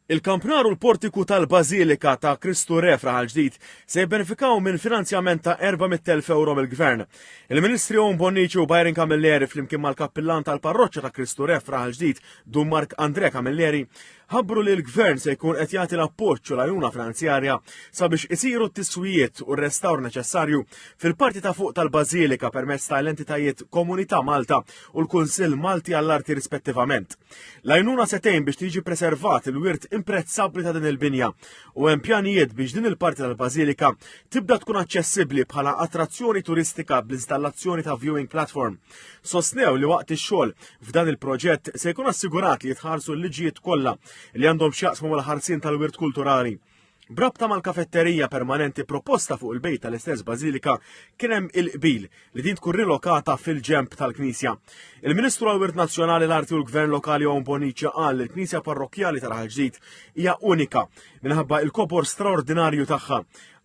Il-kampnar u l-portiku tal-Bażilika ta' Kristu Re f'Raħal Ġdid se jibbenefikaw minn finanzjament ta' 400,000 ewro mill-Gvern. Il-Ministri Owen Bonnici u Byron Camilleri flimkien mal-Kappillan tal-Parroċċa ta' Kristu Re f'Raħal Ġdid, Dun Mark Andrea Camilleri, ħabbru li l-Gvern se jkun qed jagħti l-appoġġ u l-għajnuna finanzjarja sabiex isiru t-tiswijiet u r-restawr neċessarju fil-parti ta' fuq tal-Bażilika permezz tal-entitajiet Komunità Malta u l-Kunsill Malti għall-Arti rispettivament. L-għajnuna se tgħin biex tiġi preservat il-wirt imprezzabbli ta' din il-binja u hemm pjanijiet biex din il-parti tal-Bażilika tibda tkun aċċessibbli bħala attrazzjoni turistika bl-installazzjoni ta' viewing platform. Sostnew li waqt ix-xogħol f'dan il-proġett se jkun assigurat li jitħarsu l-liġijiet kollha li għandhom x'jaqsmu mal-ħarsien tal-wirt kulturali. Brabta mal-kafetterija permanenti proposta fuq il-bejt tal-istess Bażilika kien hemm il-qbil li din tkun rilokata fil-ġemp tal-Knisja. Il-Ministru għal-Wirt Nazzjonali l-Arti u l-Gvern Lokali Owen Bonicia qal li l-Knisja Parrokkjali tal-Ħal Ġdid hija unika minħabba il-kobor straordinarju tagħha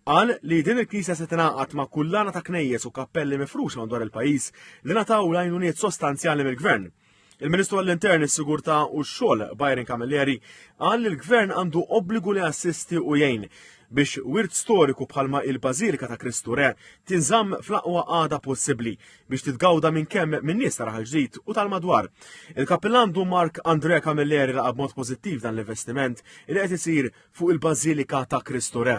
Qal li din il-knisja se tingħaqad ma' kullana ta' knejjes u kappelli mifruxa madwar il-pajjiż li nataw lajnuniet sostanzjali mill-gvern. Il-Ministru għall-Intern, is-Sigurtà u x-Xogħol, Byron Camilleri, qal li l-Gvern għandu obbligu li assisti u jgħin biex wirt storiku bħalma il-Bażilika ta' Kristu Re tinżamm fl-aqwa għada possibbli biex titgawda minn kemm minn nies ta' raħal ġdid u tal-madwar. Il-Kappillan Du Mark Andre Camilleri laqab mod pożittiv dan l-investiment li qed isir fuq il-Bażilika ta' Kristu Re.